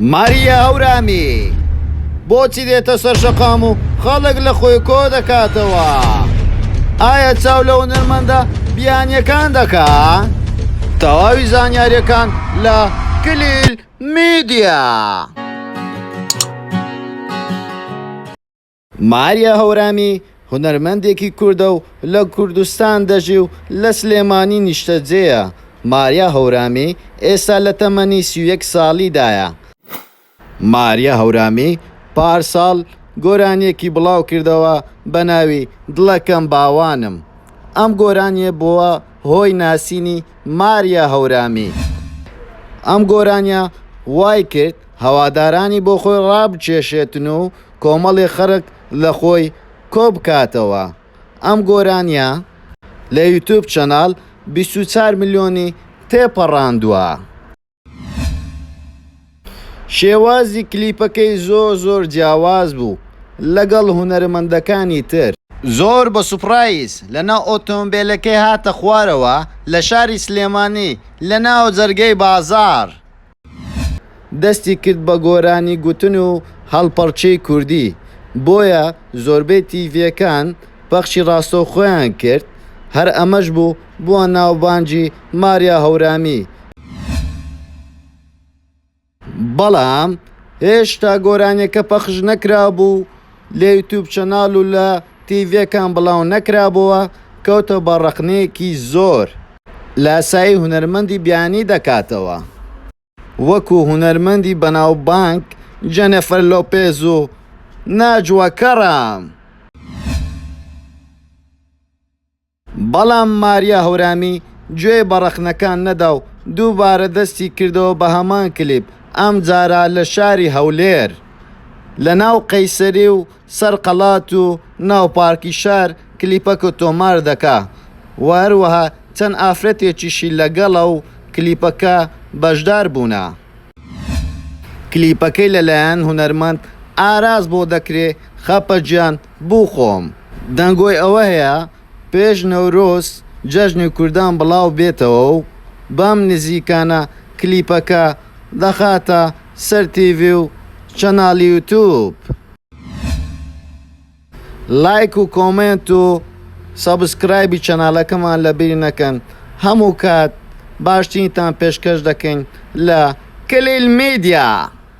ماریا هەورامی بۆچی دێتە سەر شەقام و خەڵک لە خۆی کۆ دەکاتەوە؟ ئایا چاو لە هونەرمەندە بیانیەکان دەکا؟ تەواوی زانیاریەکان لە کلیل میدیا. ماریا هەورامی هونەرمەندێکی کوردە و لە کوردستان دەژی و لە سلێمانی نیشتەجێیە، ماریا هەورامی ئێستا لە تەمەنی سی و یەک ساڵیدایە. ماریا هەورامی پارساڵ گۆرانییەکی بڵاوکردەوە بە ناوی دڵەکەم باوانم، ئەم گۆرانییە بووە هۆی ناسینی ماریا هەورامی، ئەم گۆرانییە وایکرد هەوادارانی بۆخۆی ڕابکێشێتن و کۆمەڵی خەرک لە خۆی کۆ بکاتەوە ئەم گۆرانیە لە یوتوب چەناڵ بیست و چوار ملیۆنی تێ پەڕاندوە. شێوازی کلیپەکەی زۆر زۆر جیاواز بوو لەگەڵ هونەرمەندەکانی تر. زۆر بە سوپرایز لە ناو ئۆتۆمبێلەکەی هاتە خوارەوە لە شاری سلێمانی لە ناو جەرگەی بازاڕ. دەستی کرد بە گۆرانی گوتن و هەڵپەڕکێی کوردی، بۆیە زۆربەی تیڤییەکان پەخشی ڕاستەوخۆیان کرد، هەر ئەمەش بوو بووە ناوبانگی ماریا هەورامی، بەڵام هێشتا گۆرانییەکە پەخش نەکرابوو، لە یوتوب چەناڵ و لە تیڤیەکان بڵاو نەکرابۆوە کەوتە بە ڕەخنەیەکی زۆر. لاسایی هونەرمەندی بیانی دەکاتەوە وەکو هونەرمەندی بەناوبانگ جەنێفەر لۆپێز و ناجوە کەرام. بەڵام ماریا هەورامی گوێی بە ڕەخنەکان نەدا و دووبارە دەستی کردەوە بە هەمان کلیپ، ئەمجارە لە شاری هەولێر، لە ناو قەیسەری و سەر قەڵات و ناو پارکی شار کلیپەکە تۆمار دەکا و هەروەها چەند ئافرەتێکیشی لەگەڵە و کلیپەکە بەشدار بوونە. کلیپەکەی لەلایەن هونەرمەند ئاراس بۆ دەکرێ، خەپە گیان، بو خۆم دەنگۆی ئەوە هەیە پێش نەورۆز جەژنی کوردان بڵاو بێتەوە و بەم نزیکانە کلیپەکە دەخاتە سەر تیڤی و چەناڵی یوتوب لایک و کۆمێنت و سەبسکرایبی چەناڵەکەمان لە بیر نەکەن هەمو کات باشترینتان پێشکەش دەکەین لە کلیل میدیا.